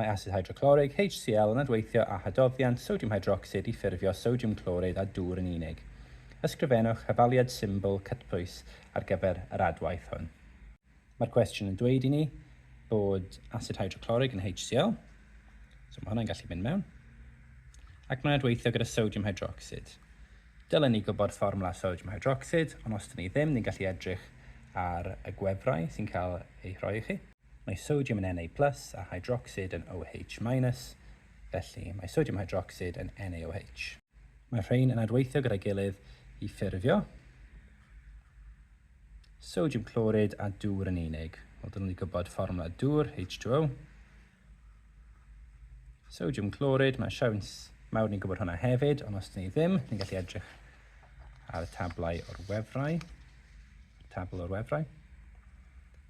Mae asid hydroclorig, HCl, yn adweithio â hadoddiant sodiwm hydrocsid i ffurfio sodiwm clorid a dŵr yn unig. Ysgrifennwch hafaliad symbol cytbwys ar gyfer yr adwaith hwn. Mae'r cwestiwn yn dweud i ni bod asid hydroclorig yn HCl, so mae hwnna'n gallu mynd mewn, ac mae'n adweithio gyda sodiwm hydrocsid. Dylen ni gwybod fformwla sodiwm hydrocsid, ond os dyn ni ddim, ni'n gallu edrych ar y gwefrau sy'n cael eu rhoi i chi. Mae sodiwm yn Na plus a hydrocsid yn OH minus, felly mae sodiwm hydrocsid yn NaOH. Mae'r rhain yn adweithio gyda'i gilydd i ffurfio sodiwm clorid a dŵr yn unig. Wel, dylwn ni gwybod fformwla dŵr, H2O. Sodiwm clorid, mae siawns mawr ni'n gwybod hwnna hefyd, ond os dyn ni ddim, ni'n gallu edrych ar y tablau o'r wefrau, tabl o'r wefrau,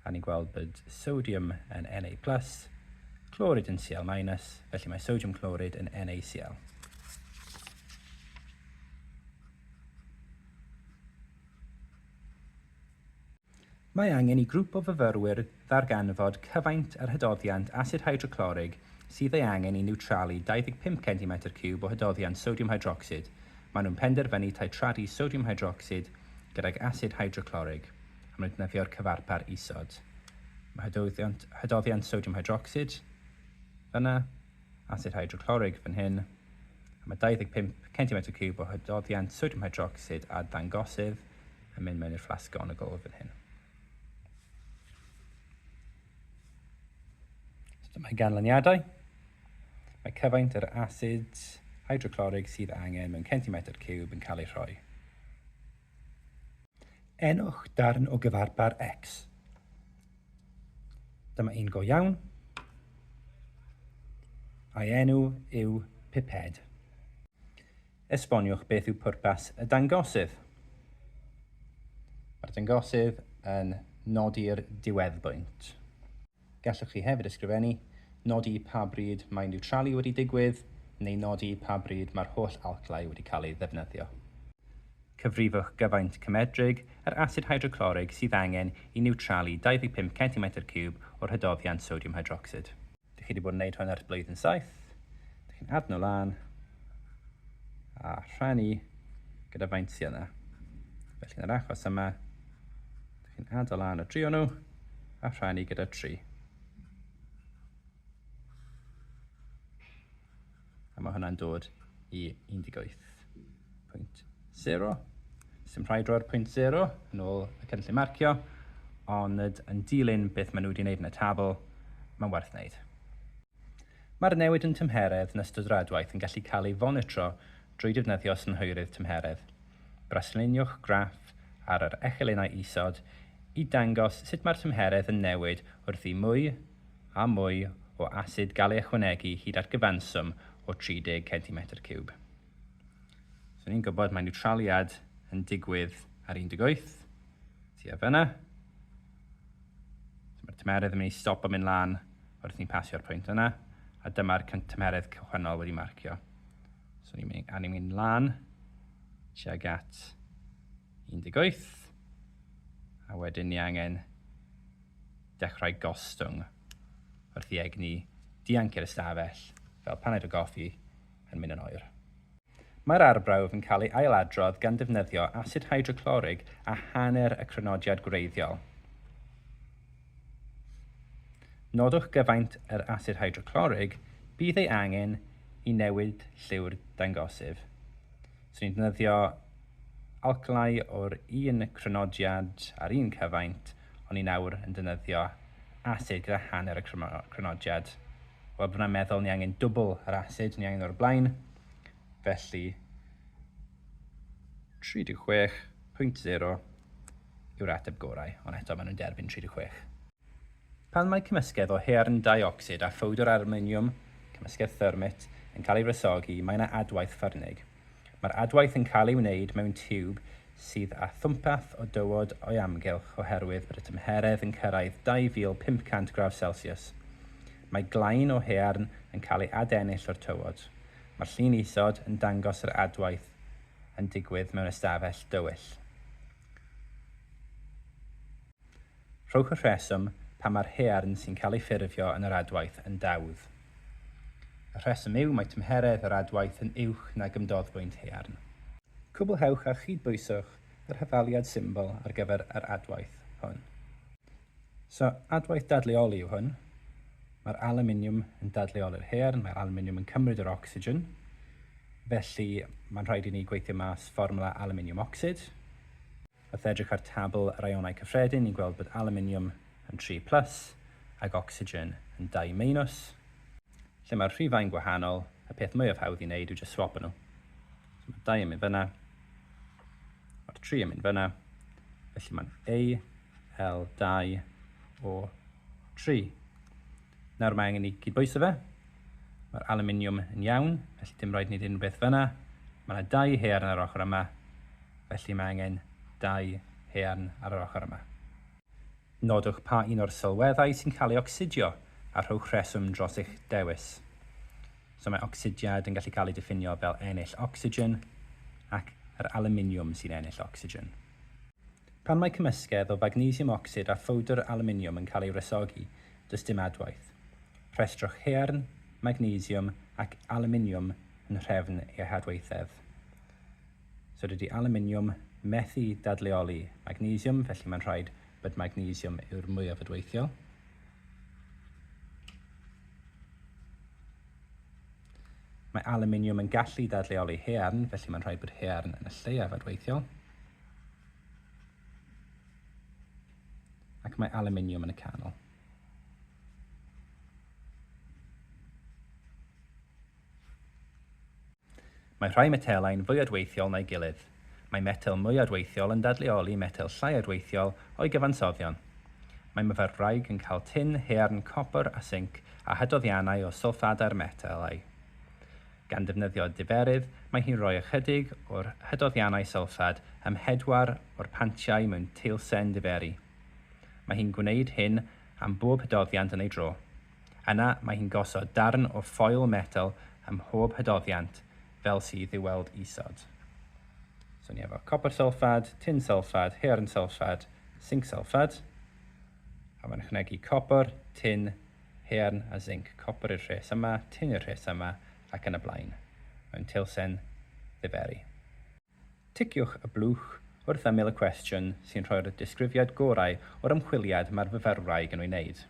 a ni'n gweld bod sodium yn Na+, clorid yn Cl-, felly mae sodium clorid yn NaCl. Mae angen i grŵp o fyfyrwyr ddarganfod cyfaint yr hydoddiant asid hydroclorig sydd ei angen i niwtralu 25 centimetr ciwb o hydoddiant sodiwm hydrocsid. Maen nhw'n penderfynu titradu sodiwm hydrocsid gydag asid hydroclorig am nhw'n defnyddio'r cyfarpar isod. Mae hydoddiant, hydoddiant sodiwm hydrocsid fyna, asid hydroclorig fan hyn, a mae 25 centimetr ciwb o hydoddiant sodiwm hydrocsid a dangosydd yn mynd mewn i'r fflasg on y gôl fan hyn. So mae ganlyniadau. Mae cyfaint yr asid hydroclorig sydd angen mewn centimetr cwb yn cael ei rhoi. Enwch darn o gyfarpar X. Dyma un go iawn. A'i enw yw piped. Esboniwch beth yw pwrpas y dangosydd. Mae'r dangosydd yn nodi'r diweddbwynt. Gallwch chi hefyd ysgrifennu, nodi pa bryd mae niwtralu wedi digwydd neu nodi pa bryd mae'r holl alclau wedi cael eu ddefnyddio. Cyfrifwch gyfaint cymedrig yr asid hydroclorig sydd angen i niwtralu 25 centimetr ciwb o'r hydoddiant sodiwm hydrocsid. Dych chi wedi bod yn gwneud hwn ers blwyddyn saith. Dych chi'n adno lan a rhannu gyda faint sy'n yna. Felly yn yr achos yma, dych chi'n adno lan o drio nhw a rhannu gyda tri. A mae hwnna'n dod i 18.0. Sym rhaid roi'r pwynt 0 yn ôl y cynllun marcio, ond yn dilyn beth maen nhw wedi wneud yn y tabl, mae'n werth wneud. Mae'r newid yn tymheredd yn ystod yr adwaith yn gallu cael ei fonitro drwy defnyddio synhwyrydd tymheredd. Brasluniwch graff ar yr echelynnau isod i dangos sut mae'r tymheredd yn newid wrth i mwy a mwy o asid gael ei ychwanegu hyd at gyfanswm o 30 centimetr ciwb. So ni'n gwybod mae niwtraliad yn digwydd ar 18, tua fyna. So mae'r tymeredd yn mynd i stop o mynd lan wrth ni'n pasio'r pwynt yna, a dyma'r tymeredd cychwynnol wedi marcio. So ni'n mynd, a ni'n mynd lan tuag at 18, a wedyn ni angen dechrau gostwng wrth i egni dianc i'r ystafell fel paned o goffi yn mynd yn oer. Mae'r arbrawf yn cael ei ail-adrodd gan ddefnyddio asid hydroclorig a hanner y crynodiad gwreiddiol. Nodwch gyfaint yr asid hydroclorig bydd ei angen i newid lliw'r dangosif. Swn i'n defnyddio alkylau o'r un crynodiad a'r un cyfaint, ond ni nawr yn defnyddio asid gyda hanner y crynodiad. Wel, byddwn i'n meddwl ni angen dwbl yr asid ni angen o'r blaen, felly 36.0 yw'r ateb gorau, ond eto maen nhw'n derbyn 36. Pan mae cymysgedd o haearn deuocsid a phowdr alwminiwm, cymysgedd thermit, yn cael ei wresogi, mae yna adwaith ffyrnig. Mae'r adwaith yn cael ei wneud mewn tiwb sydd â thwmpath o dywod o'i amgylch oherwydd bod y tymheredd yn cyrraedd 2500 gradd selsiws. Mae glain o haearn yn cael ei adennill o'r tywod. Mae'r llun isod yn dangos yr adwaith yn digwydd mewn ystafell dywyll. Rhowch y rheswm pam mae'r haearn sy'n cael ei ffurfio yn yr adwaith yn dawdd. Y rheswm yw mae tymheredd yr adwaith yn uwch nag ymdoddfwynt haearn. Cwblhewch a chydbwyswch yr hafaliad symbol ar gyfer yr adwaith hwn. So, adwaith dadleoli yw hwn. Mae'r alwminiwm yn dadleoli'r haearn, mae'r alwminiwm yn cymryd yr ocsigen, felly mae'n rhaid i ni gweithio mas fformwla alwminiwm ocsid. Wrth edrych ar tabl yr ionau cyffredin, ni'n gweld bod alwminiwm yn tri plus ac ocsigen yn dau meinus. Lle mae'r rhifau'n gwahanol, y peth mwyaf hawdd i wneud yw jyst swopo nhw. So mae'r dau yn mynd fyna, mae'r tri yn mynd fyna, felly mae'n AL2O3. Nawr mae angen i gydbwyso fe. Mae'r aluminium yn iawn, felly dim rhaid wneud unrhyw beth fanna. Mae yna dau haearn ar yr ochr yma, felly mae angen dau haearn ar yr ochr yma. Nodwch pa un o'r sylweddau sy'n cael ei ocsidio a rhowch rheswm dros eich dewis. So mae ocsidiad yn gallu cael ei diffinio fel ennill ocsigen ac yr aluminium sy'n ennill ocsigen. Pan mae cymysgedd o fagnesiwm ocsid a phowdr alwminiwm yn cael ei wresogi, does dim adwaith. Rhestrwch haearn, magnesiwm ac alwminiwm yn nhrefn eu hadwaethedd. So dydy alwminiwm methu dadleoli magnesiwm, felly mae'n rhaid bod magnesiwm yw'r mwyaf adweithiol. Mae alwminiwm yn gallu dadleoli haearn, felly mae'n rhaid bod haearn yn y lleiaf adweithiol. Ac mae aluminium yn y canol. Mae rhai metelau'n fwy adweithiol na'i gilydd. Mae metel mwy adweithiol yn dadleoli metel llai adweithiol o'i gyfansoddion. Mae myfyrwraig yn cael tin, haearn, copr a sinc a hydoddiannau o sylffadau'r metelau. Gan ddefnyddio diferydd, mae hi'n rhoi ychydig o'r hydoddiannau sylffad ym mhedwar o'r pantiau mewn teilsen diferu. Mae hi'n gwneud hyn am bob hydoddiant yn ei dro. Yna, mae hi'n gosod darn o ffoil metel ym mhob hydoddiant, fel sydd i'w weld isod. So ni efo copr sylffad, tin sylffad, haearn sylffad, sinc sylffad. A mae'n ychwanegu copr, tin, haearn a zinc, copr i'r rhes yma, tin i'r rhes yma, ac yn y blaen. Mae'n teilsen ddiferi. Ticiwch y blwch wrth ymyl y cwestiwn sy'n rhoi'r disgrifiad gorau o'r ymchwiliad mae'r fyfyrwraig yn ei wneud.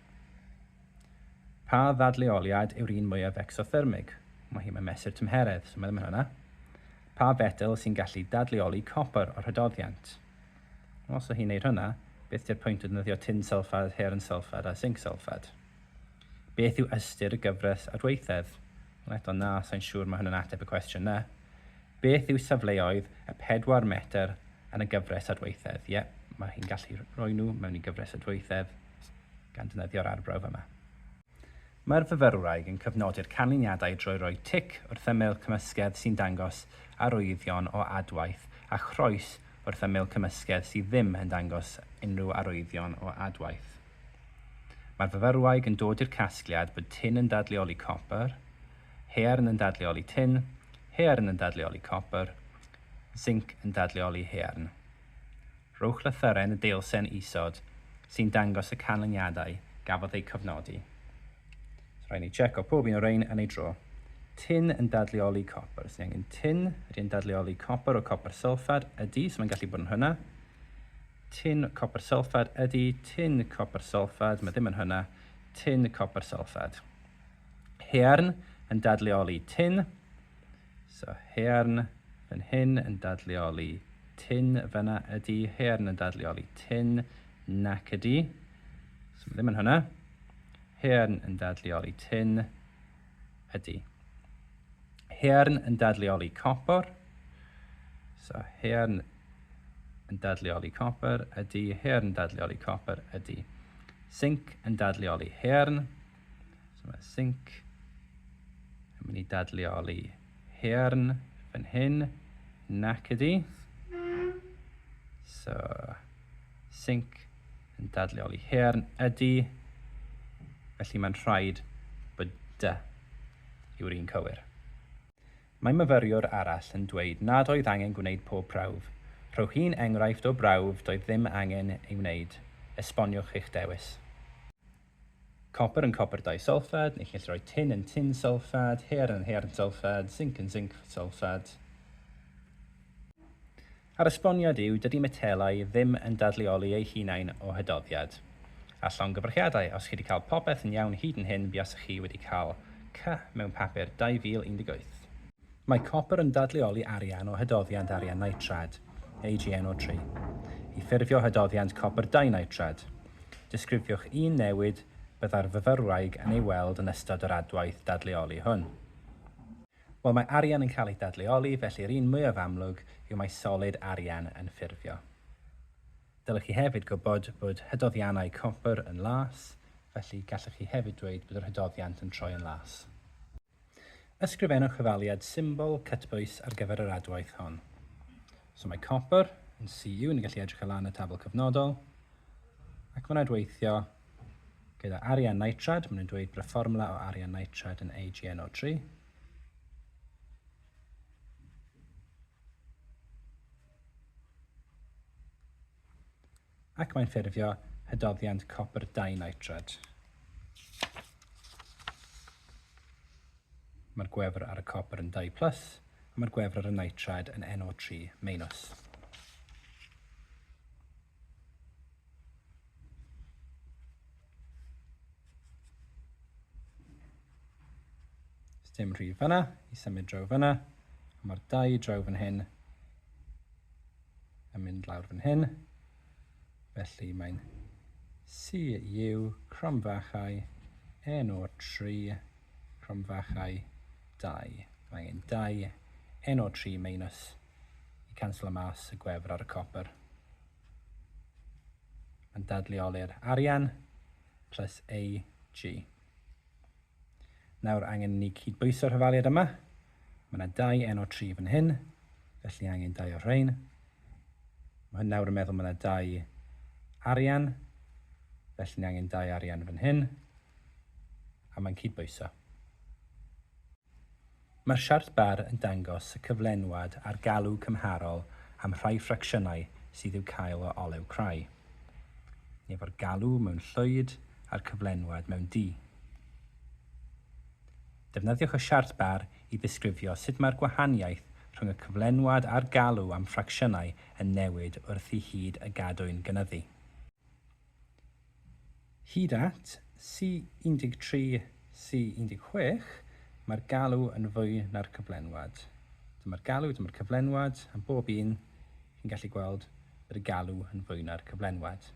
Pa ddadleoliad yw'r un mwyaf ecsothermig? Mae hi, mae'n mesur tymheredd, so mae ddim yn hwnna. Pa fetel sy'n gallu dadleoli copr o'r rhydoddiant? Os o hi'n neud hwnna, beth di'r pwynt o ddefnyddio tin sylffad, haearn sylffad a sinc sylffad? Beth yw ystyr y gyfres adweithedd? Wel eto na, sa'n siŵr mae hwnna'n ateb y cwestiwn 'na. Beth yw safleoedd y pedwar metr yn y gyfres adweithedd? Ie, mae hi'n gallu rhoi nhw mewn i gyfres adweithedd gan defnyddio'r arbrawf yma. Mae'r fyfyrwraig yn cyfnodi'r canlyniadau drwy roi tic wrth ymyl cymysgedd sy'n dangos arwyddion o adwaith a chroes wrth ymyl cymysgedd sydd ddim yn dangos unrhyw arwyddion o adwaith. Mae'r fyfyrwraig yn dod i'r casgliad bod tin yn dadleoli copr, haearn yn dadleoli tin, haearn yn dadleoli copr, zinc yn dadleoli haearn. Rhowch lythyren y deilsen isod sy'n dangos y canlyniadau gafodd eu cofnodi. Rhaid ni tseco pob un o rein yn ei dro. Tin yn dadleoli copr. Os ni angen tin, ydy e'n dadleoli copr o copr sylffad? Ydy, so mae'n gallu bod yn hwnna. Tin copr sylffad ydy, tin copr sylffad, mae ddim yn hwnna. Tin copr sylffad. Hearn yn dadleoli tin. So haearn fan hyn yn dadleoli tin fanna ydi, haearn yn dadleoli tin nac ydi. So ddim yn hwnna. Haearn yn dadleoli tin ydi. Haearn yn dadleoli copor. So haearn yn dadleoli copor ydi, haearn yn dadleoli copor ydi. Zinc yn dadleoli haearn. So mae sync yn mynd i dadleoli hearn fan hyn, nac ydi. So, sync yn dadleoli hearn ydi. Felly mae'n rhaid bod dy yw'r un cywir. Mae myfyriwr arall yn dweud nad oedd angen gwneud pob prawf. Rhowch un enghraifft o brawf doedd ddim angen ei wneud. Esboniwch eich dewis. Copr yn copr disulfad, neu chi'n gallu rhoi tin yn tin sylfad, haearn yn haearn sylfad, zinc yn zinc sylfad. A'r esboniad yw, dydy metelau ddim yn dadleoli eu hunain o hydoddiad. A llongyfarchiadau, os chi wedi cael popeth yn iawn hyd yn hyn buasech chi wedi cael C mewn papur 2018. Mae copr yn dadleoli arian o hydoddiant arian nitrad, AgNO3. I ffurfio hydoddiant copr dinitrad, disgrifiwch un newid byddai'r fyfyrwraig yn ei weld yn ystod yr adwaith dadleoli hwn. Wel, mae arian yn cael ei dadleoli, felly'r un mwyaf amlwg yw mai solid arian yn ffurfio. Dylech chi hefyd gwybod bod hydoddiannau copr yn las, felly gallwch chi hefyd dweud bod yr hydoddiant yn troi yn las. Ysgrifennwch cyfaliad symbol cytbwys ar gyfer yr adwaith hon. So mae copr yn CU, ni'n gallu edrych o lan y tabl cyfnodol, ac mae'n adweithio gyda arian nitrad, maen nhw'n dweud bod y fformula o arian nitrad yn AgNO3. ac mae'n ffurfio hydoddiant copr dinitrad. Mae'r gwefr ar y copr yn 2 plus, a mae'r gwefr ar y nitrad yn NO3 minus. dim rhif fanna, i symud draw fanna, a mae'r dau draw fan hyn yn mynd lawr fan hyn. Felly mae'n CU cromfachau NO3 cromfachau 2. Mae angen 2 NO3 minus i canslo mas y gwefr ar y copper. Mae'n dadleoli'r arian plus AG. Nawr angen i ni cyd-bwyso'r hafaliad yma. Mae yna dau N o tri fan hyn, felly angen dau o'r rhain. Mae hyn nawr yn meddwl mae yna dau arian, felly ni angen dau arian fan hyn, a mae'n cyd-bwyso. Mae'r siart bar yn dangos y cyflenwad a'r galw cymharol am rhai ffracsiynau sydd i'w cael o olew crai, neu fo'r galw mewn llwyd a'r cyflenwad mewn du. Defnyddiwch y siart bar i ddisgrifio sut mae'r gwahaniaeth rhwng y cyflenwad a'r galw am ffracsiynau yn newid wrth i hyd y gadwyn gynyddu. Hyd at C13, C16, mae'r galw yn fwy na'r cyflenwad. Dyma'r galw, dyma'r cyflenwad, am bob un, chi'n gallu gweld bod y galw yn fwy na'r cyflenwad.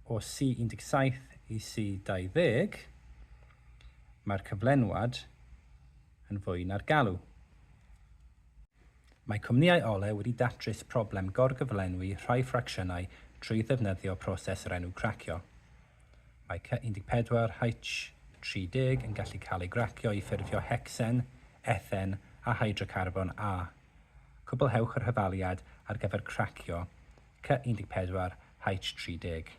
O C17 i C20, mae'r cyflenwad yn fwy na'r galw. Mae cwmnïau olew wedi datrys problem gorgyflenwi rhai ffracsiynau trwy ddefnyddio proses o'r enw cracio. Mae Cy 14 Hy 30 yn gallu cael ei gracio i ffurfio hecsen, ethen a hydrocarbon A. Cwblhewch yr hyfaliad ar gyfer cracio Cy 14 Hy 30.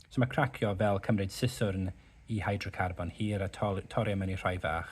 So mae cracio fel cymryd siswrn i hydrocarbon hir a torri am ynni rhai fach.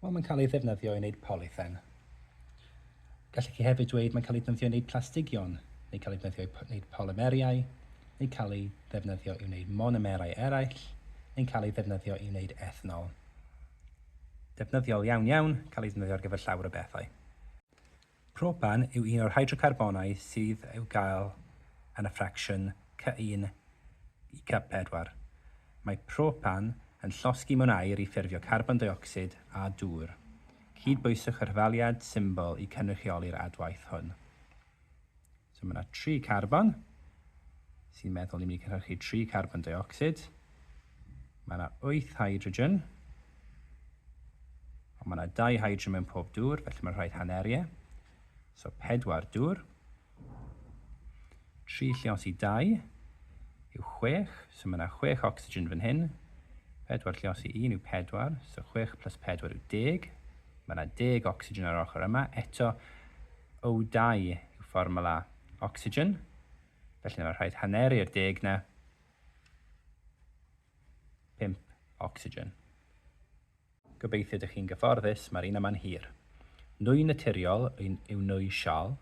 Wel, mae'n cael ei ddefnyddio i wneud polythen. Gallech chi hefyd dweud mae'n cael ei ddefnyddio i wneud plastigion, neu cael ei ddefnyddio i wneud polymeriau, neu cael ei ddefnyddio i wneud monomerau eraill, neu'n cael ei ddefnyddio i wneud ethanol. Defnyddiol iawn iawn, cael ei ddefnyddio ar gyfer llawer o bethau. Propan yw un o'r hydrocarbonau sydd i'w gael yn y ffracsiwn Cy1 i Cy4. Mae propan yn llosgi mewn aer i ffurfio carbon deuocsid a dŵr. Cydbwyswch y rhafaliad symbol i cynrychioli'r adwaith hwn. So mae yna tri carbon sy'n meddwl ni'n mynd i cynhyrchu tri carbon deuocsid. Mae yna wyth hydrogen. Ond mae yna dau hydrogen mewn pob dŵr, felly mae'n rhaid haneru e. So pedwar dŵr. Tri llios i dau yw chwech, so mae yna chwech ocsigen fan hyn. Pedwar llios i un yw pedwar, so chwech plus pedwar yw deg. Mae yna deg ocsigen ar yr ochr yma. Eto, O2 yw fformwla ocsigen, felly mae'n rhaid haneru'r deg na. 5 ocsigen. Gobeithio dych chi'n gyfforddus, mae'r un yma'n hir. Nwy naturiol yw nwy sial,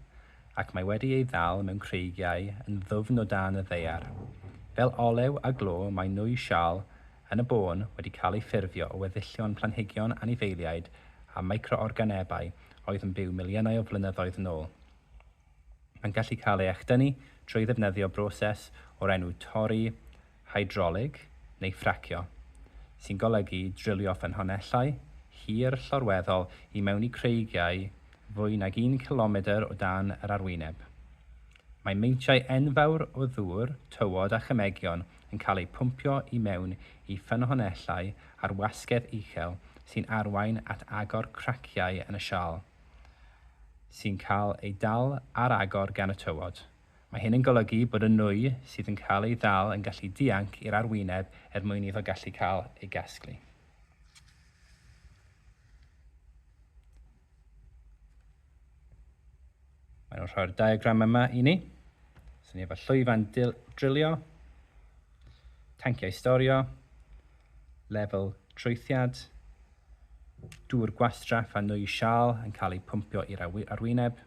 ac mae wedi ei ddal mewn creigiau yn ddwfn o dan y ddaear. Fel olew a glo mae nwy sial yn y bôn wedi cael ei ffurfio o weddillion planhigion anifeiliaid a micro-organebau oedd yn byw miliynau o flynyddoedd yn ôl. Mae'n gallu cael ei echdynnu trwy ddefnyddio broses o'r enw torri hydrolig, neu ffracio, sy'n golygu drilio ffynhonnellau hir llorweddol i mewn i creigiau fwy nag un cilomedr o dan yr arwyneb. Mae meintiau enfawr o ddŵr, tywod a chymegion yn cael eu pwmpio i mewn i ffynhonnellau ar wasgedd uchel sy'n arwain at agor craciau yn y siâl, sy'n cael ei dal ar agor gan y tywod. Mae hyn yn golygu bod y nwy sydd yn cael ei ddal yn gallu dianc i'r arwyneb er mwyn iddo gallu cael ei gasglu. Mae nhw'n rhoi'r diagram yma i ni. Swn ni efo llwyfan drilio, tanciau storio, lefel traethiad, dŵr gwastraff a nwy sial yn cael eu pwmpio i'r arwyneb,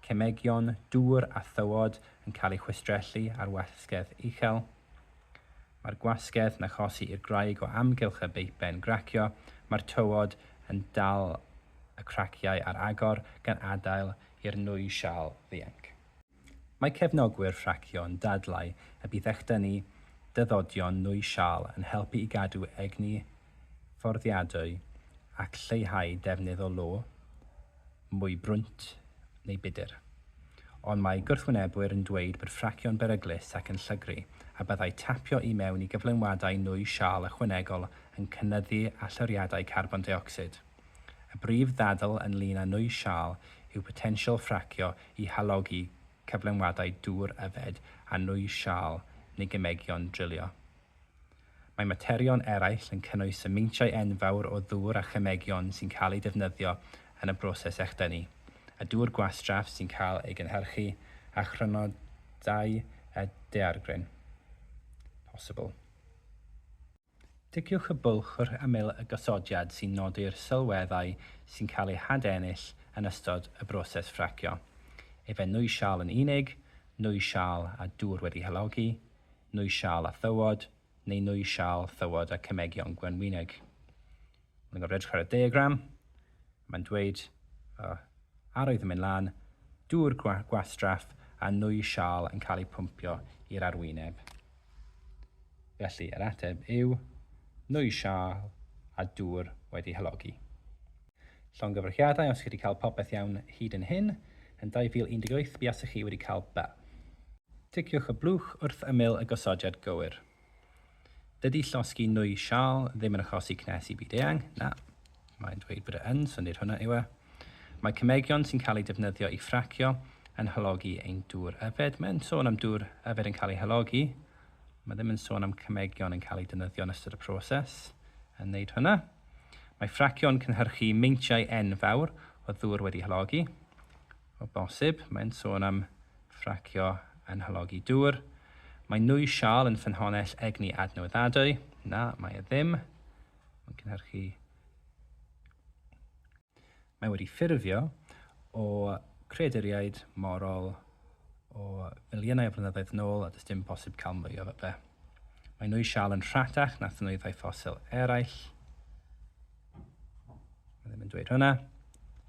cemegion, dŵr a thywod yn cael eu chwistrellu ar wasgedd uchel. Mae'r gwasgedd yn achosi i'r gwraig o amgylch y beipen gracio, mae'r tywod yn dal y craciau ar agor gan adael i'r nwy siâl ddianc. Mae cefnogwyr rhacio yn dadlau y bydd echdynnu dyddodion nwy siâl yn helpu i gadw egni fforddiadwy ac lleihau defnydd o lo, mwy brwnt neu budr. Ond mae gwrthwynebwyr yn dweud bod ffracio'n beryglus ac yn llygru, a byddai tapio i mewn i gyflenwadau nwy siâl ychwanegol yn cynyddu allyriadau carbon deuocsid. Y brif ddadl ynglŷn â nwy siâl yw potensial ffracio i halogi cyflenwadau dŵr yfed a nwy siâl neu gemegion drilio. Mae materion eraill yn cynnwys y meintiau enfawr o ddŵr a chemegion sy'n cael eu defnyddio yn y broses echdynnu, y dŵr gwastraff sy'n cael ei gynhyrchu, a chrynodau y daeargryn. Posibl. Ticiwch y bwlch wrth ymyl y gosodiad sy'n nodi'r sylweddau sy'n cael eu hadennill yn ystod y broses ffracio, efe nwy siâl yn unig, nwy siâl a dŵr wedi halogi, Nwy Siâl a Thywod, neu Nwy Siâl, Thywod a Cemegion Gwenwyneg. Mae'n gorfod edrych ar y diagram, mae'n dweud uh, arwydd yn mynd lan, dŵr gwastraff a nwy sial yn cael ei pwmpio i'r arwyneb. Felly, yr ateb yw nwy sial a dŵr wedi hylogi. Llongyfarchiadau os chi wedi cael popeth iawn hyd yn hyn. Yn 2018 buasech chi wedi cael be? Ticiwch y blwch wrth ymyl y gosodiad gywir. Dydy llosgi nwy siâl ddim yn achosi cnes i byd eang, na, mae'n dweud bod e yn, so nid hwnna yw e. Mae cemegion sy'n cael eu defnyddio i ffracio yn halogi ein dŵr yfed. Mae'n sôn am dŵr yfed yn cael ei halogi. Mae ddim yn sôn am cemegion yn cael eu defnyddio yn ystod y proses yn wneud hwnna. Mae ffracio'n cynhyrchu meintiau enfawr o ddŵr wedi halogi. O bosib, mae'n sôn am ffracio yn halogi dŵr. Mae nwy sial yn ffynhonnell egni adnewyddadwy. Na, mae e ddim. Mae'n cynhyrchu Mae wedi ffurfio o creaduriaid morol o filiynau o flynyddoedd nôl a does dim posib cael mwy o fe. Mae nwy siâl yn rhatach na thnwyddau ffosil eraill. Mae ddim yn dweud hwnna.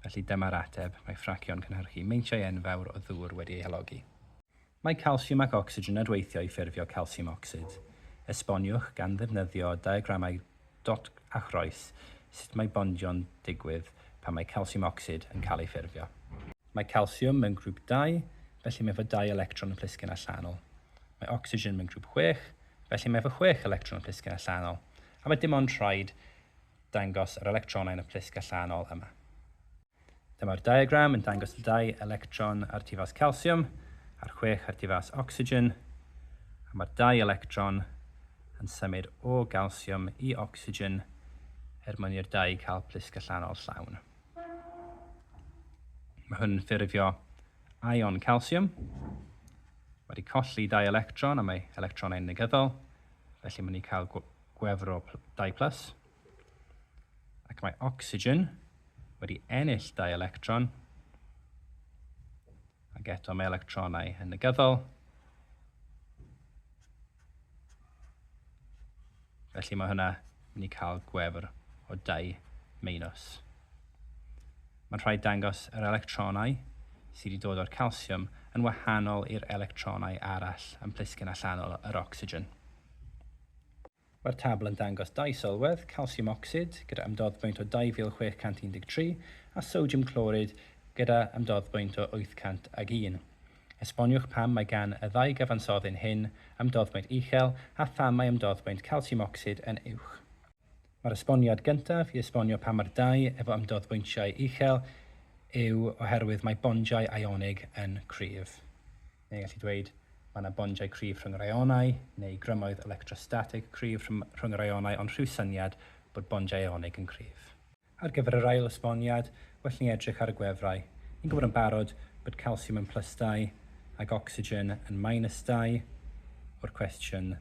Felly dyma'r ateb, mae ffracio'n cynhyrchu meintiau enfawr o ddŵr wedi ei halogi. Mae calsiwm ac ocsigen adweithio i ffurfio calsiwm ocsid. Esboniwch, gan ddefnyddio diagramau dot a chroes, sut mae bondio'n digwydd pan mae calsiwm ocsid yn cael ei ffurfio. Mae calsiwm mewn grŵp dau, felly mae efo dau electron yn plisgyn allanol. Mae ocsigen mewn grŵp chwech, felly mae efo chwech electron yn plisgyn allanol. A mae dim ond rhaid dangos yr electronau yn y plisg allanol yma. Dyma'r diagram yn dangos y dau electron ar difas calsiwm a'r chwech ar difas ocsigen, a mae'r dau electron yn symud o galsiwm i ocsigen er mwyn i'r dau cael plisg allanol llawn. Mae hwn yn ffurfio ion calsiwm. Mae wedi colli dau electron a mae electronau'n negyddol, felly mae'n ni cael gwefr o 2 plus. Ac mae ocsigen wedi ennill dau electron, ac eto mae electronau yn negyddol. Felly mae hwnna yn ei cael gwefr o dau meinus. Mae'n rhaid dangos yr electronau sydd wedi dod o'r calsiwm yn wahanol i'r electronau arall yn plisgyn allanol yr ocsigen. Mae'r tabl yn dangos dau sylwedd, calsiwm ocsid, gyda ymdoddbwynt o 2,613, a sodiwm clorid, gyda ymdoddbwynt o 801. Esboniwch pam mae gan y ddau gyfansoddyn hyn ymdoddbwynt uchel a pham mae ymdoddbwynt calsiwm ocsid yn uwch. Mae'r esboniad gyntaf i esbonio pam mae'r dau efo ymdoddbwyntiau uchel yw oherwydd mae bondiau ionig yn cryf. Neu ni'n gallu dweud, mae yna bondiau cryf rhwng yr aeonau, neu grymoedd electrostatig cryf rhwng yr aeonau ond rhyw syniad bod bondiau aeonig yn cryf. Ar gyfer yr ail esboniad, well ni edrych ar y gwefrau. Ni'n gwybod yn barod bod calsiwm yn plus dau ac ocsigen yn minus dau o'r cwestiwn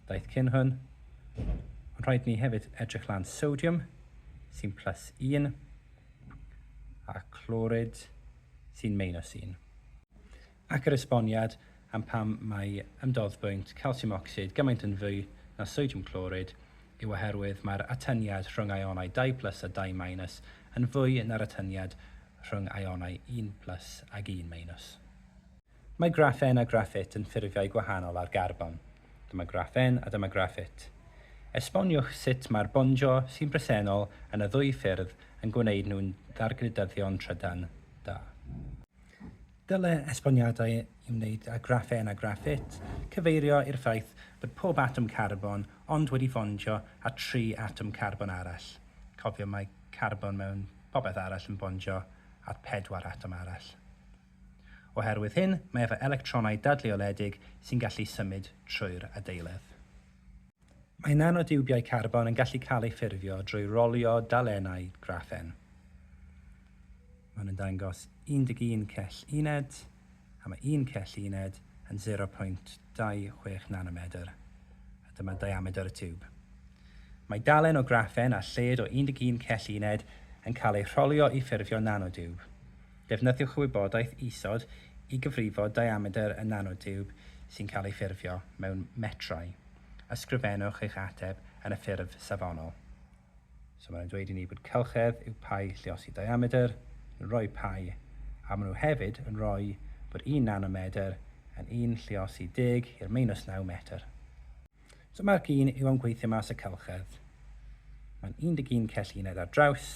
ddaeth cyn hwn, ond rhaid ni hefyd edrych lan sodiwm sy'n plus un a chlorid sy'n minus un. ac yr esboniad am pam mae ymdoddbwynt calsiwm ocsid gymaint yn fwy na sodiwm clorid yw oherwydd mae'r atyniad rhwng aionau dau plus a dau minus yn fwy na'r atyniad rhwng aionau un plus ag un minus. Mae graffen a graffit yn ffurfiau gwahanol ar garbon. Dyma graffen a dyma graffit. Esboniwch sut mae'r bondio sy'n bresennol yn y ddwy ffurf yn gwneud nhw'n ddargludyddion trydan da. Dylai esboniadau i wneud â graffên a graffit cyfeirio i'r ffaith bod pob atom carbon ond wedi fondio â tri atom carbon arall. Cofio, mae carbon mewn popeth arall yn bondio â phedwar atom arall. Oherwydd hyn, mae efo electronau dadleoledig sy'n gallu symud trwy'r adeiledd. Mae nanotiwbiau carbon yn gallu cael eu ffurfio drwy rolio dalennau graffen. Maen nhw'n dangos 11 cell uned, a mae un cell uned yn 0.26 nanomedr, a dyma diamedr y tiwb. Mae dalen o graffen a lled o 11 cell uned yn cael eu rholio i ffurfio nanotiwb. Defnyddiwch y wybodaeth isod i gyfrifo diamedr y nanotiwb sy'n cael ei ffurfio mewn metrau. Ysgrifennwch eich ateb yn y ffurf safonol. So maen nhw'n dweud i ni bod cylchedd yw pai lliosi diamedr, yn rhoi pai, a maen nhw hefyd yn rhoi bod un nanomedr yn un lliosi deg i'r meinws naw metr. So marc un yw am gweithio mas y cylchedd. Mae'n 11 cell uned ar draws,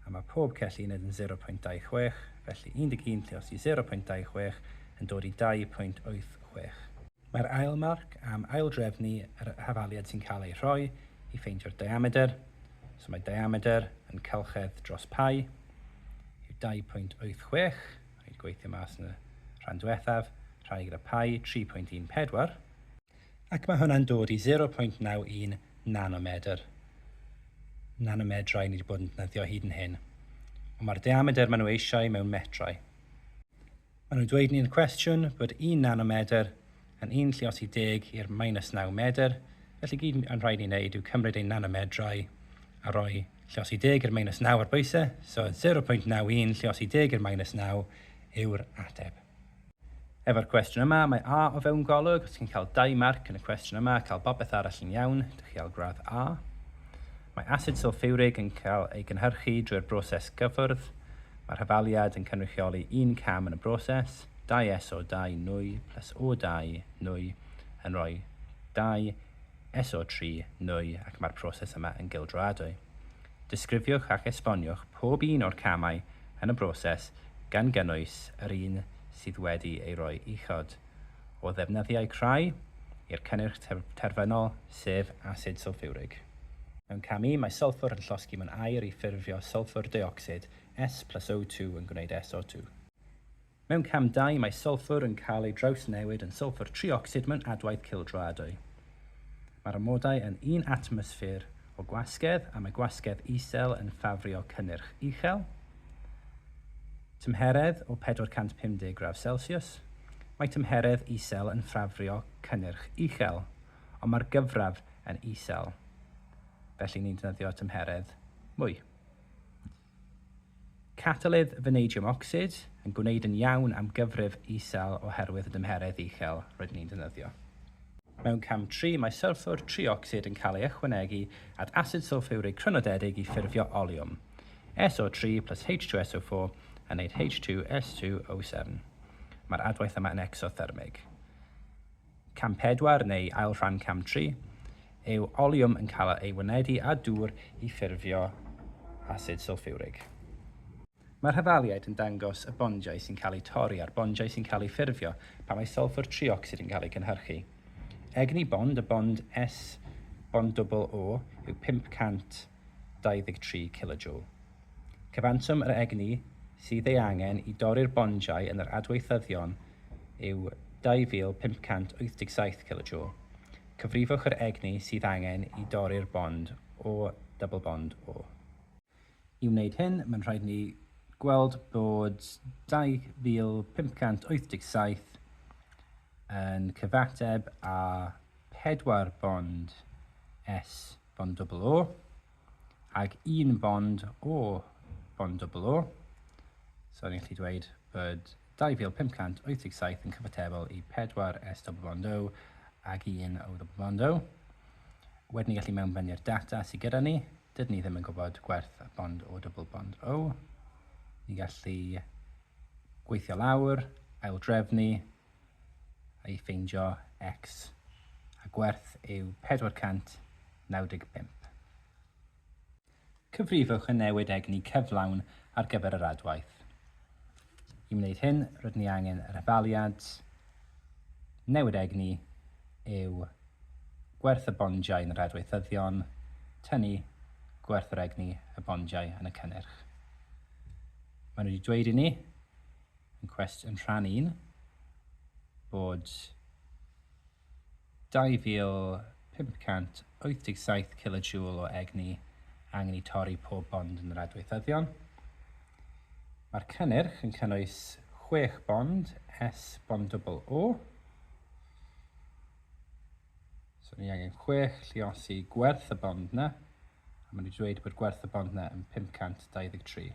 a mae pob cell uned yn 0.26, felly 11 lliosi 0.26 yn dod i 2.86. Mae'r ail marc am aildrefnu yr hafaliad sy'n cael ei rhoi i ffeindio'r diamedr, so mae diamedr yn cylchedd dros pi, yw 2.86, rhaid gweithio mas yn y rhan diwethaf, rhannu gyda pi, 3.14, ac mae hwnna'n dod i 0.91 nanomedr, nanomedrau ni wedi bod yn defnyddio hyd yn hyn, ond mae'r diamedr maen nhw eisiau mewn metrau. Maen nhw'n dweud ni'n cwestiwn bod un nanomedr yn un lliosi deg i'r minus naw medr, felly gyd yn rhaid ni wneud yw cymryd ein nanomedrau a rhoi lliosi deg i'r minus naw ar bwysau, so 0.91 lliosi deg i'r minus naw yw'r ateb. Efo'r cwestiwn yma, mae A o fewn golwg, os chi'n cael dau marc yn y cwestiwn yma, cael popeth arall yn iawn, dych chi al gradd A. Mae asid sylffiwrig yn cael ei gynhyrchu drwy'r broses gyffwrdd. Mae'r rhyfaliad yn cynrychioli un cam yn y broses, dau SO2 nwy plus O2 nwy yn rhoi dau SO3 nwy ac mae'r proses yma yn gildroadwy. Disgrifiwch ac esboniwch pob un o'r camau yn y broses gan gynnwys yr un sydd wedi ei roi uchod. o ddefnyddiau crai i'r cynnyrch terfynol, sef asid sylffiwrig. Mewn cam I, mae sylffwr yn llosgi mewn aer i ffurfio sylffwr deuocsid, S plus O2 yn gwneud SO2. Mewn cam ii, mae sylffwr yn cael ei drawsnewid yn sylffwr triocsid mewn adwaith cildro adwy. Mae'r amodau yn un atmosffer o gwasgedd a mae gwasgedd isel yn ffafrio cynnyrch uchel. Tymheredd o 450 gradd Celsius, Mae tymheredd isel yn ffafrio cynnyrch uchel, ond mae'r gyfradd yn isel, felly ni'n defnyddio tymheredd mwy. Catalydd fanadiwm ocsid yn gwneud yn iawn am gyfrif isel oherwydd y dymheredd uchel rydyn ni'n defnyddio. Mewn cam tri, mae sylffwr triocsid yn cael ei ychwanegu at asid sylffywrig crynodedig i ffurfio oliwm, SO3 plus H2SO4, yn wneud H2SO7. Mae'r adwaith yma yn ecsothyrmig. Cam pedwar neu ail rhan cam tri yw oliwm yn cael ei wynebu â dŵr i ffurfio asid sylffiwrig. Mae'r hafaliaid yn dangos y bondiau sy'n cael eu torri a'r bondiau sy'n cael eu ffurfio pan mae sylffwr triocsid yn cael ei gynhyrchu. Egni bond, y bond S-bond dwbl O, yw 500 23 kilojoule. Cyfanswm yr egni sydd ei angen i dorri'r bondiau yn yr adweithyddion yw 2587 kilojoule. Cyfrifwch yr egni sydd angen i dorri'r bond O, double bond O. I wneud hyn, mae'n rhaid i ni gweld bod 2587 yn cyfateb â 4 bond S. bond dwbl O, ac un bond O, bond dwbl O. So ni'n gallu dweud bod 2587 yn cyfatebol i 4 S double bond O ac 1 O double bond O. Wedyn ni'n gallu mewnbynnu'r data sydd gyda ni. Dydyn ni ddim yn gwybod gwerth y bond O double bond O. Ni'n gallu gweithio lawr, aildrefnu, I ffeindio x a gwerth yw 495. Cyfrifwch y newid egni cyflawn ar gyfer yr adwaith. I wneud hyn, rydyn ni angen yr hafaliad newid egni yw gwerth y bondiau yn yr adweithyddion, tynnu gwerth yr egni y bondiau yn y cynnyrch. Maen nhw wedi dweud i ni yn cwest yn rhan un, bod 2,587 kilojoule o egni angen i torri pob bond yn yr adweithyddion. Mae'r cynnyrch yn cynnwys 6 bond S bond dwbl O. So ni angen 6 lliosi gwerth y bond yna, a maen nhw wedi dweud bod gwerth y bond yna yn 523.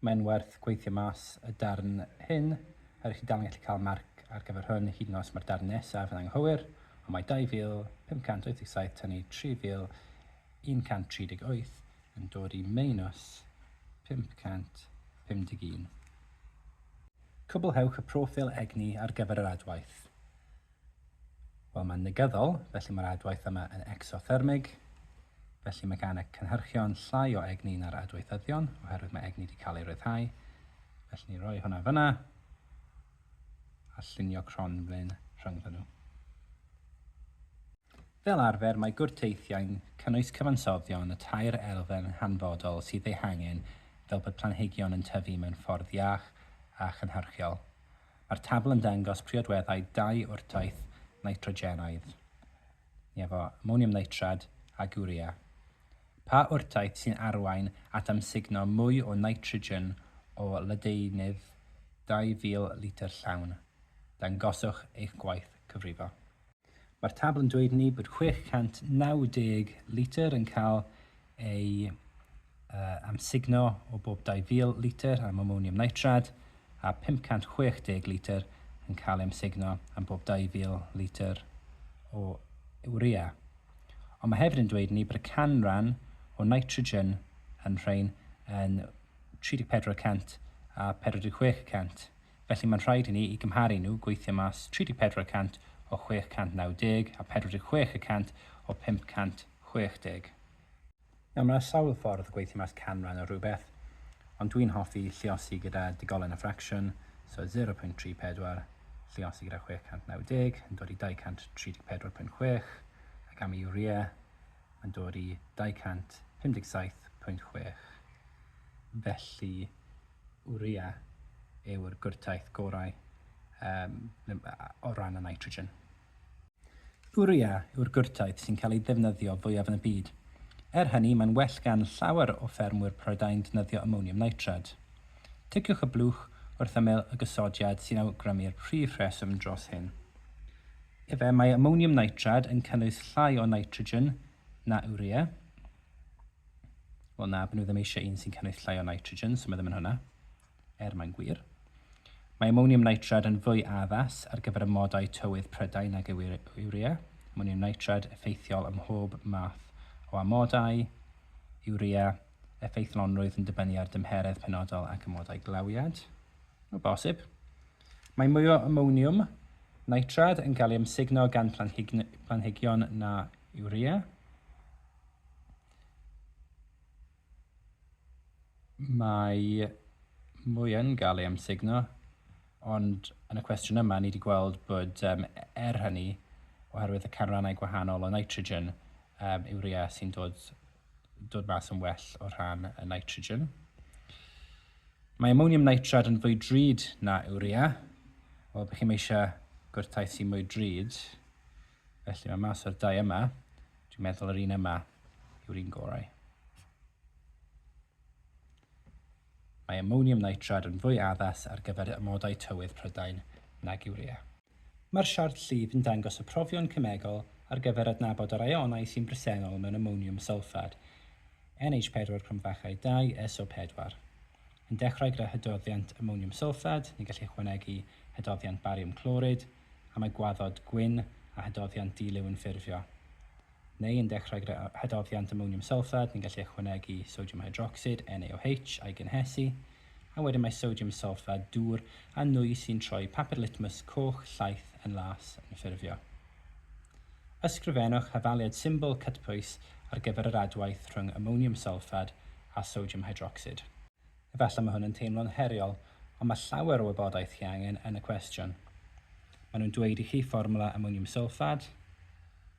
Mae'n werth gweithio mas y darn hyn, er i chi dal yn gallu cael marc ar gyfer hwn hyd yn os mae'r darn nesaf yn anghywir, ond mae 2,587 tynnu 3,138 yn dod i meinws 551. Cwblhewch y proffil egni ar gyfer yr adwaith. Wel, mae'n negyddol, felly mae'r adwaith yma yn ecsothermig, felly mae gan y cynhyrchion llai o egni na'r adweithyddion, oherwydd mae egni wedi cael ei ryddhau. Felly ni roi hwnna fyna, a llunio cronflyn rhyngddyn nhw. Fel arfer, mae gwrteithiau'n cynnwys cyfansoddion y tair elfen hanfodol sydd eu hangen fel bod planhigion yn tyfu mewn ffordd iach a chynhyrchiol. Mae'r tabl yn dangos priodweddau dau wrtaith nitrogenaidd, efo amoniwm nitrad ac urea. Pa wrtaith sy'n arwain at amsugno mwy o nitrogen o ledaenydd 2,000 litr llawn? Dangoswch eich gwaith cyfrifo. Mae'r tabl yn dweud i ni bod 690 litr yn cael ei uh, amsugno o bob 2,000 litr am amonium nitrad a 560 litr yn cael ei amsugno am bob 2,000 litr o urea. Ond mae hefyd yn dweud i ni bod y canran o nitrogen yn rhain yn 34% a 46%. felly mae'n rhaid i ni i gymharu nhw, gweithio mas 34 y cant o 690 a 46 y cant o 560. Nawr, mae 'na sawl ffordd o gweithio mas canran o rhywbeth, ond dwi'n hoffi lluosi gyda digolen a ffracsiwn, so 0.34 lluosi gyda 690 yn dod i 234.6, ac am y urea, yn dod i 257.6, felly urea yw'r gwrtaith gorau yym o ran y nitrogen. Urea yw'r gwrtaith sy'n cael ei ddefnyddio fwyaf yn y byd. Er hynny, mae'n well gan llawer o ffermwyr Prydain ddefnyddio amoniwm nitrad. Ticiwch y blwch wrth ymyl y gosodiad sy'n awgrymu'r prif reswm dros hyn. Efe, mae amoniwm nitrad yn cynnwys llai o nitrogen na urea. Wel na, byd nhw ddim eisiau un sy'n cynnwys llai o nitrogen, so mae ddim yn hwnna, er mae'n gwir. Mae amoniwm nitrad yn fwy addas ar gyfer y modau tywydd prydau nag yw urea. Amoniwm nitrad effeithiol ym mhob math o amodau, urea, effeithlonrwydd yn dibynnu ar dymheredd penodol ac amodau glawiad. O bosib. Mae mwy o amoniwm nitrad yn cael ei amsugno gan planhigion na urea. Mae mwy yn cael ei amsugno, ond yn y cwestiwn yma ni wedi gweld bod um, er hynny, oherwydd y canrannau gwahanol o nitrogen, um, urea sy'n dod dod mas yn well o rhan y nitrogen. Mae ammonium nitrate yn fwy drud na urea. Wel, bych chi'n eisiau gwrtaith sy'n mwy drud. Felly mae mas o'r dau yma. Dwi'n meddwl yr un yma yw'r un gorau. Mae ammonium nitrate yn fwy addas ar gyfer amodau tywydd Prydain nag urea. Mae'r siart llif yn dangos y profion cemegol ar gyfer adnabod yr ïonau sy'n bresennol mewn amoniwm sylffad, NH4 cromfachau 2, SO4. Yn dechrau gyda hydroddiant amoniwm sylffad, ni'n gallu ychwanegu hydroddiant bariwm clorid, am y gwaddod gwyn, a hydroddiant di-liw yn ffurfio. neu yn dechrau gyda hadoddiant amoniwm sylffad, ni'n gallu ychwanegu sodiwm hydrocsid, NaOH, a'i gynhesu, a wedyn mae sodiwm sylffad dŵr a nwy sy'n troi papur litmus coch, llaith, yn las, yn ffurfio. Ysgrifennwch hafaliad symbol cytbwys ar gyfer yr adwaith rhwng amoniwm sylffad a sodiwm hydrocsid. Efallai mae hwn yn teimlo'n heriol, ond mae llawer o wybodaeth chi angen yn y cwestiwn. Maen nhw'n dweud i chi fformwla amoniwm sylffad,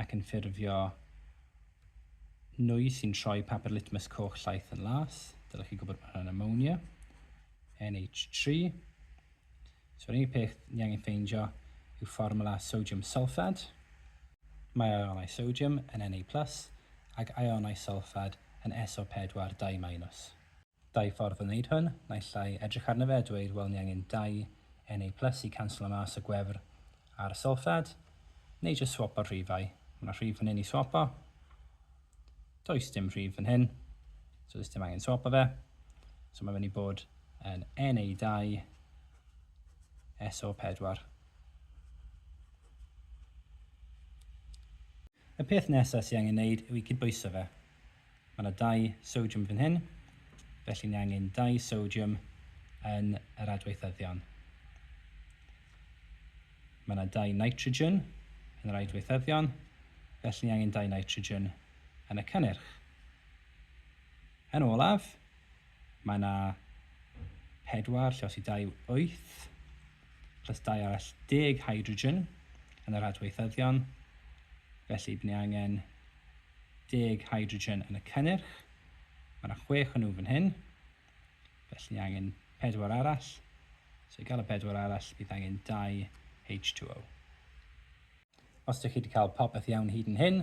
ac yn ffurfio nwy sy'n troi papur litmus coch llaeth yn las. Dylech chi gwybod bod hwnna'n ammonia, NH3. So yr unig peth ni angen ffeindio yw fformula sodium sulfad. Mae ionau sodium yn Na+, ac ionau sulfad yn SO4 2-. Dau ffordd o wneud hwn, naill ai edrych arno fe a dweud wel ni angen dau NA plus i canslo mas y gwefr a'r sylffad, neu jyst swopo'r rhifau, mae yna rhif fan hyn i swopo, does dim rhif fan hyn, so does dim angen swopo fe, so mae'n mynd i bod yn NA2 SO4. Y peth nesa sy angen neud yw i gydbwyso fe. Ma na dau sodium fan hyn, felly ni angen dau sodium yn yr adweithyddion. Ma na dau nitrogen yn yr aidweithyddion, felly ni angen dau nitrogen yn y cynnyrch. Yn olaf, ma na pedwar, lle os i dau yw wyth, plus dau arall deg hydrogen yn yr adweithyddion, felly bydd ni angen deg hydrogen yn y cynnyrch. Mae yna chwech o nhw fan hyn, felly ni angen pedwar arall. So i gael y pedwar arall, bydd angen dau H2O. Os dych chi 'di cael popeth iawn hyd yn hyn,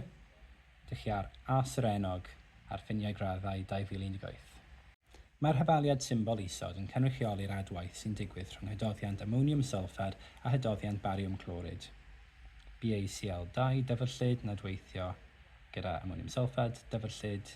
dych chi ar As yr Enog ar ffiniau graddau 2018. Mae'r hafaliad symbol isod yn cynrychioli'r adwaith sy'n digwydd rhwng hydoddiant amoniwm sylffad a hydoddiant bariwm clorid, BaCl2, dyfrllyd, nad weithio gyda amoniwm sylffad, dyfrllyd,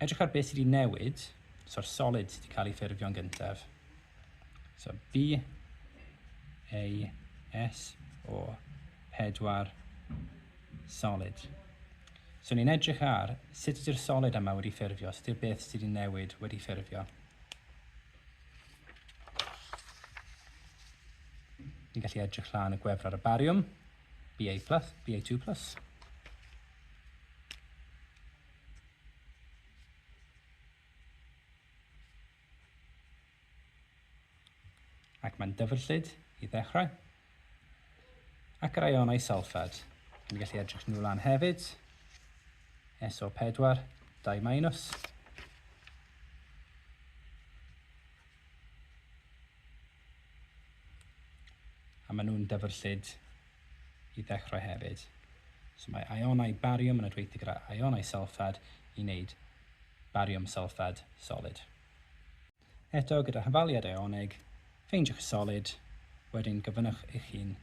Edrych ar beth sydd wedi newid, so'r solid sydd wedi cael ei ffurfio'n gyntaf. So B, A, S, O, 4, solid. So ni'n edrych ar sut ydy'r solid yma wedi ffurfio, sut ydy'r beth sydd wedi newid wedi ffurfio. Ni'n gallu edrych lan y gwefr ar y bariwm, BA+, BA2+. Ac mae'n dyfrllyd i ddechrau. Ac yr ionau salffad. Yn gallu edrych nhw lan hefyd. SO4, 2 minus. A maen nhw'n dyfrllyd i ddechrau hefyd. So mae ionau bariwm yn adweithio gyda ionau sylffad i wneud bariwm sylffad solid. Eto, gyda hyfaliad ioneg, ffeindiwch y solid, wedyn gofynnwch eich hun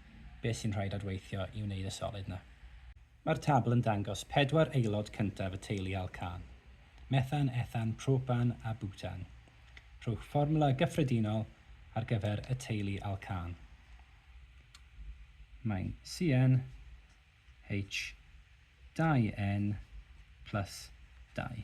beth sy'n rhaid adweithio i wneud y solid 'na. Mae'r tabl yn dangos pedwar aelod cyntaf y teulu alcan, methan, ethan, propan a butan. Rhowch fformwla gyffredinol ar gyfer y teulu alcan. Mae'n CnH2n plus 2.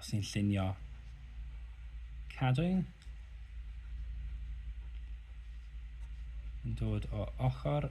os ni'n llunio cadwyn yn dod o ochr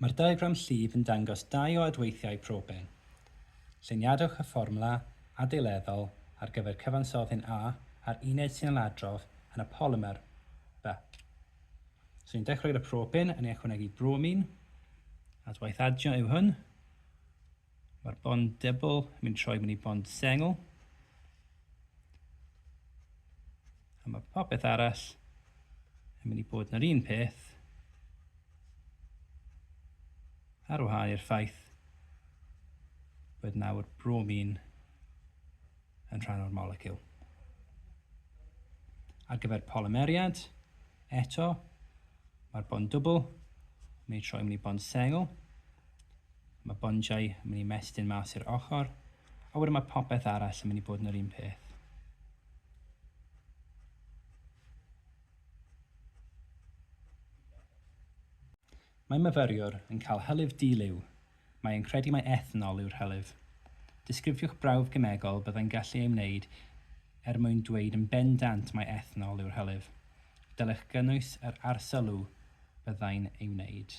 Mae'r diagram llif yn dangos dau o adweithiau proben. Lluniadwch y fformwla adeileddol ar gyfer cyfansoddyn A a'r uned sy'n ailadrodd yn y polymer B. So ni'n dechrau gyda proben yn ei ychwanegu bromin, adwaith adio yw hwn, Mae'r bond dybl yn mynd troi mewn i bond sengl. A mae popeth arall yn mynd i bod yn yr un peth ar wahân i'r ffaith bod nawr bromin yn rhan o'r moleciwl. Ar gyfer polymeriad, eto, mae'r bond dwbl yn mynd i troi mewn i bond sengl. Mae bonjau yn mynd i mestyn mas i'r ochr, a wedyn mae popeth arall yn mynd i bod yn yr un peth. Mae myfyriwr yn cael hylif di-liw. Mae e'n credu mai ethanol yw'r hylif. Disgrifiwch brawf gemegol byddai'n gallu ei wneud er mwyn dweud yn bendant mai ethanol yw'r hylif. Dylech gynnwys yr arsylw byddai'n ei wneud.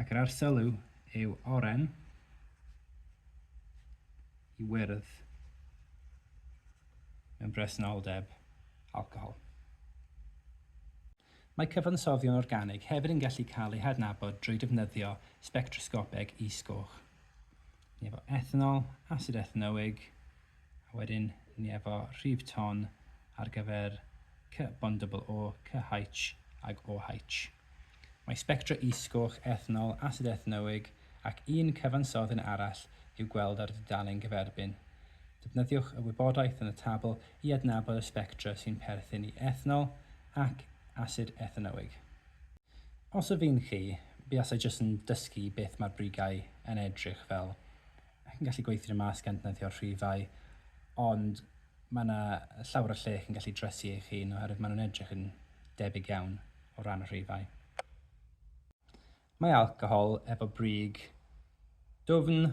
Ac yr arsylw yw oren i wyrdd mewn presenoldeb alcohol. Mae cyfansoddion organig hefyd yn gallu cael eu hadnabod drwy defnyddio sbectrosgopeg is-goch. ni efo ethanol, asid ethanoig, a wedyn ni efo rhif ton ar gyfer cy bond double O, cy H ag O H. Mae sbectra is-goch ethanol, asid ethanoig ac un cyfansodd yn arall i'w gweld ar y dudalen gyferbyn. Defnyddiwch y wybodaeth yn y tabl i adnabod y sbectra sy'n perthyn i ethanol ac asid ethanoig. Os o fi'n chi, buasai jyst yn dysgu beth mae'r brigau yn edrych fel. Chi'n gallu gweithio nhw mas gan dneifio'r rhifau, ond mae 'na llawer o lle chi'n gallu dresu eich hun oherwydd maen nhw'n edrych yn debyg iawn o ran y rhifau. Mae alcohol efo brig dwfn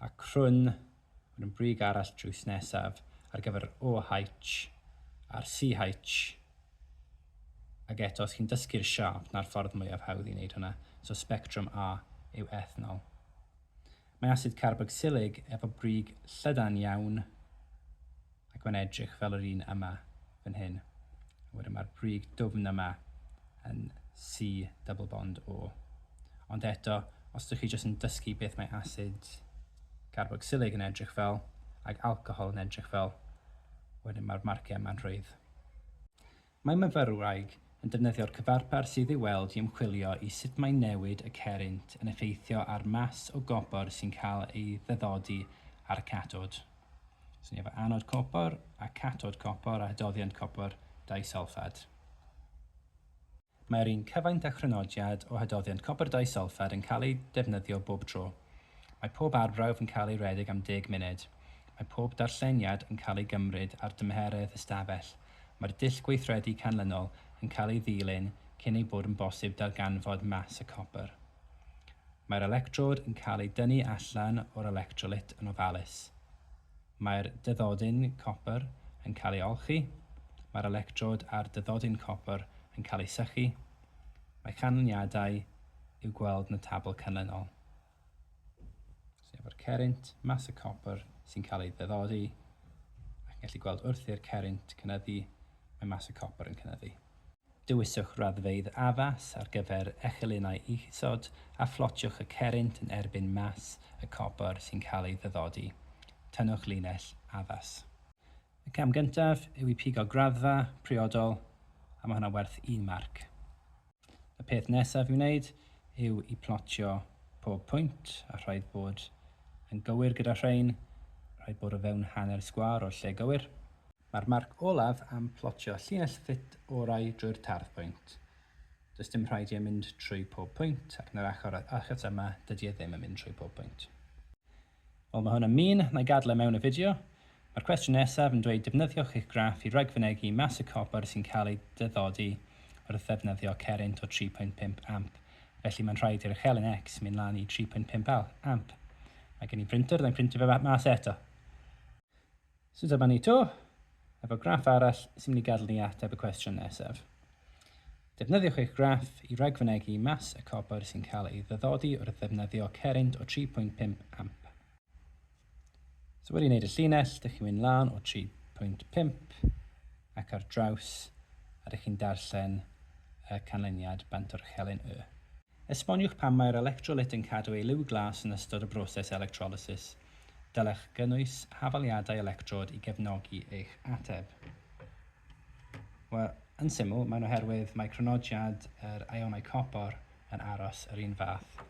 a crwn Mae yna brig arall drws nesaf ar gyfer yr OH a'r CH ac eto os chi'n dysgu'r siâp 'na'r ffordd mwyaf hawdd i wneud hwnna, so sbectrwm A yw ethanol. Mae asid carbocsilig efo brig llydan iawn. ac mae'n edrych fel yr un yma fan hyn. A wedyn mae'r brig dwfn yma yn C double bond O. Ond eto, os ydych chi jyst yn dysgu beth mae asid garbocsilig yn edrych fel ac alcohol yn edrych fel, wedyn mae'r marciau yma'n rhwydd. Mae myfyrwraig yn defnyddio'r cyfarpar sydd i'w weld i ymchwilio i sut mae newid y cerrynt yn effeithio ar mas o gopr sy'n cael ei ddyddodi ar y catod. So ni efo anod copr a catod copr a hydoddiant copr disulffad. Mae'r un cyfaint a chrynodiad o hydoddiant copr disulffad yn cael ei defnyddio bob tro. Mae pob arbrawf yn cael ei redeg am deg munud. Mae pob darlleniad yn cael ei gymryd ar dymheredd ystafell Mae'r dull gweithredu canlynol yn cael ei ddilyn cyn ei bod yn bosib darganfod mas y copr. Mae'r electrod yn cael ei dynnu allan o'r electrolyt yn ofalus. Mae'r dyddodyn copr yn cael ei olchi. Mae'r electrod a'r dyddodyn copr yn cael eu sychu. Mae canlyniadau i'w gweld yn y tabl canlynol. So efo'r cerrynt, mass y copr sy'n cael ei ddeddori, ac yn gallu gweld wrth i'r cerrynt cynyddu, mae mass y copr yn cynyddu. Dewiswch raddfeydd addas ar gyfer echelynnau isod a phlotiwch y cerrynt yn erbyn mass y copr sy'n cael ei ddeddori. Tynnwch linell addas. Y cam gyntaf yw i pigo graddfa priodol, a mae hwnna'n werth un marc. Y peth nesaf i'w wneud yw i plotio pob pwynt a rhaid bod yn gywir gyda rhain, rhaid bod o fewn hanner sgwâr o'r lle gywir. Mae'r marc olaf am plotio llinell ffit orau drwy'r tardd pwynt. Does dim rhaid i e mynd trwy pob pwynt ac yn yr achor achos yma dydy e ddim yn mynd trwy pob pwynt. Wel mae hwn yn mean, na i gadl e mewn y fideo. Mae'r cwestiwn nesaf yn dweud defnyddiwch eich graff i ragfynegi mas y copr sy'n cael ei dyddodi wrth ddefnyddio cerrynt o 3.5 amp, felly mae'n rhaid i'r uchelyn X mynd lan i 3.5 amp. Mae gen i brintr, na i brintio fe mas eto. So dyma ni 'to, efo graff arall sy'n mynd i gadel ni ateb y cwestiwn nesaf. Defnyddiwch eich graff i ragfynegi mas y copr sy'n cael ei ddyddodi wrth ddefnyddio cerrynt o 3.5 amp. So wedi wneud y llinell, dych chi'n mynd lan o 3.5 ac ar draws a dych chi'n darllen y canlyniad bant o'r chelyn Y. Esboniwch pam mae'r electrolyt yn cadw ei liw glas yn ystod y broses electrolysis. Dylech gynnwys hafaliadau electrod i gefnogi eich ateb. Wel, yn syml, mae'n oherwydd mae cronodiad yr ionau copor yn aros yr un fath.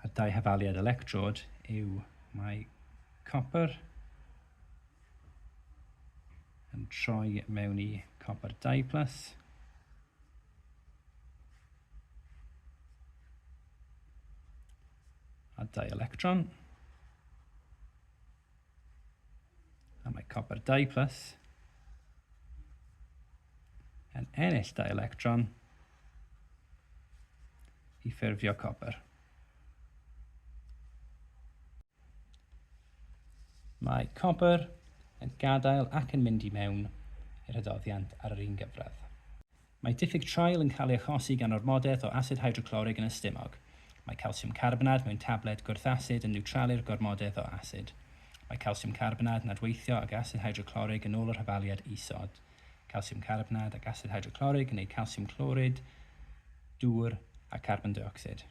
A dau hafaliad electrod yw mae copper yn troi mewn i copper 2 plus A dau electron. A mae copper 2 plus yn ennill dau electron i ffurfio copper. Mae copper yn gadael ac yn mynd i mewn i'r hydoddiant ar yr un gyfradd. Mae diffyg traul yn cael ei achosi gan ormodaeth o asid hydroclorig yn y stumog. Mae calsiwm carbonad mewn tabled gwrth-asid yn niwtralu'r gormodaeth o asid. Mae calsiwm carbonad yn adweithio ag asid hydroclorig yn ôl yr hafaliad isod. Calsiwm carbonad ac asid hydroclorig yn neu calsiwm clorid, dŵr a carbon deuocsid.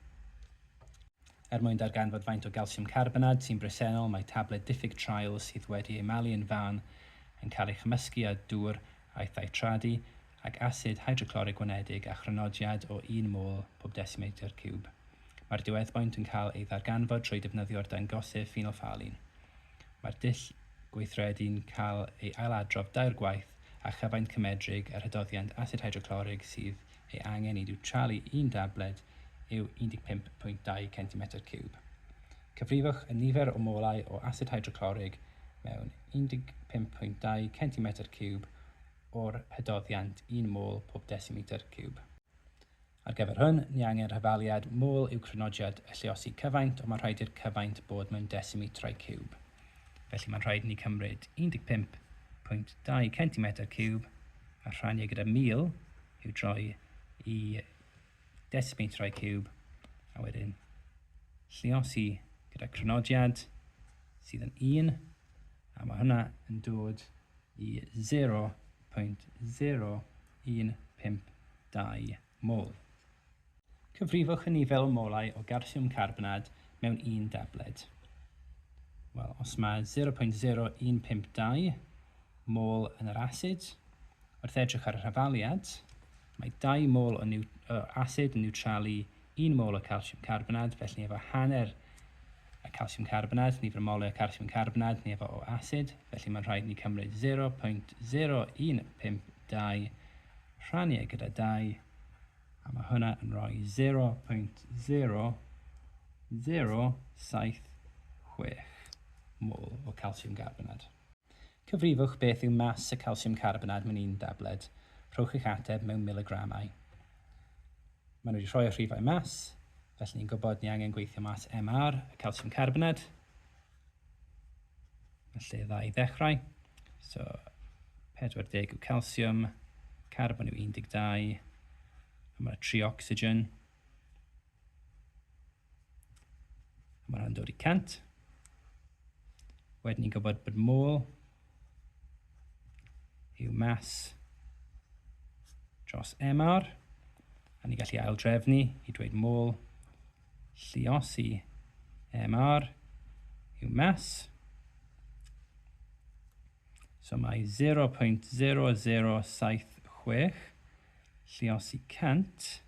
Er mwyn darganfod faint o galsiwm carbonad sy'n bresennol mae tabled diffyg traul sydd wedi ei malu yn fân yn cael ei chymysgu â dŵr aeth â'i tradu ag asid hydroclorig gwanedig â chrynodiad o un mol pob desimetr ciwb. Mae'r diweddboint yn cael ei ddarganfod trwy defnyddio'r dangosydd ffenolffaolin. Mae'r dull gweithredu'n cael ei ailadrodd dair gwaith a chyfaint cymedrig yr hydoddiant asid hydroclorig sydd ei angen i niwtralu un dabled yw 15.2 centimetr ciwb. Cyfrifwch y nifer o molau o asid hydroclorig mewn 15.2 centimetr ciwb o'r hydoddiant un mol pob desimetr ciwb. Ar gyfer hwn, ni angen rhyfaliad mol i'w crynodiad y lliosi cyfaint ond mae'n rhaid i'r cyfaint bod mewn desimetrau ciwb. Felly mae'n rhaid i ni cymryd 15.2 centimetr ciwb a rhannu gyda 1000 i'w droi i desmeitrau ciwb, a wedyn lliosi gyda crynodiad sydd yn 1, a mae hwnna yn dod i 0.0152 mol. Cyfrifwch hynny fel molau o galsiwm carbonad mewn un dabled. Wel, os mae 0.0152 mol yn yr asid, wrth edrych ar y rhafaliad, Mae dau mol o asid yn niwtralu un mol o calsiwm carbonad, felly ni efo hanner y calsiwm carbonad, nifer y molau o calsiwm carbonad ni efo o asid, felly mae'n rhaid ni cymryd 0.0152 rhannu e gyda 2, a mae hwnna yn rhoi 0.0076 mol o calsiwm carbonad. Cyfrifwch beth yw mas y calsiwm carbonad mewn un dabled. Rhowch eich ateb mewn miligramau. Maen nhw wedi rhoi y rhifau mas, felly ni'n gwybod ni angen gweithio mas MR y calsiwm carbonad. Mae lle dda i ddechrau. So 40 yw calsiwm, carbon yw 12, a mae 3 ocsigen. Mae hwnna'n dod i 100. Wedyn ni'n gwybod bod môl yw mas dros MR, a ni'n gallu ail drefnu i dweud môl lliosi MR yw mas. So mae 0.0076 lliosi 100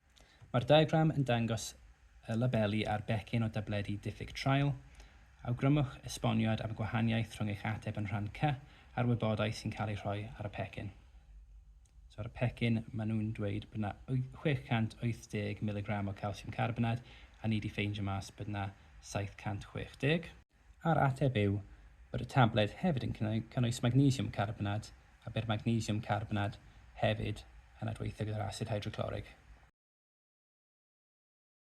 Mae'r diagram yn dangos y labeli ar becyn o dabledi diffyg traul. Awgrymwch esboniad am y gwahaniaeth rhwng eich ateb yn rhan C a'r wybodaeth sy'n cael ei rhoi ar y pecyn. So ar y pecyn, maen nhw'n dweud bod yna 680 miligram o calsiwm carbonad, a ni wedi ffeindio mas bod yna 760. a'r ateb yw bod y tabled hefyd yn cynnwys magnesiwm carbonad a bydd magnesiwm carbonad hefyd yn adweithio gyda'r asid hydroclorig.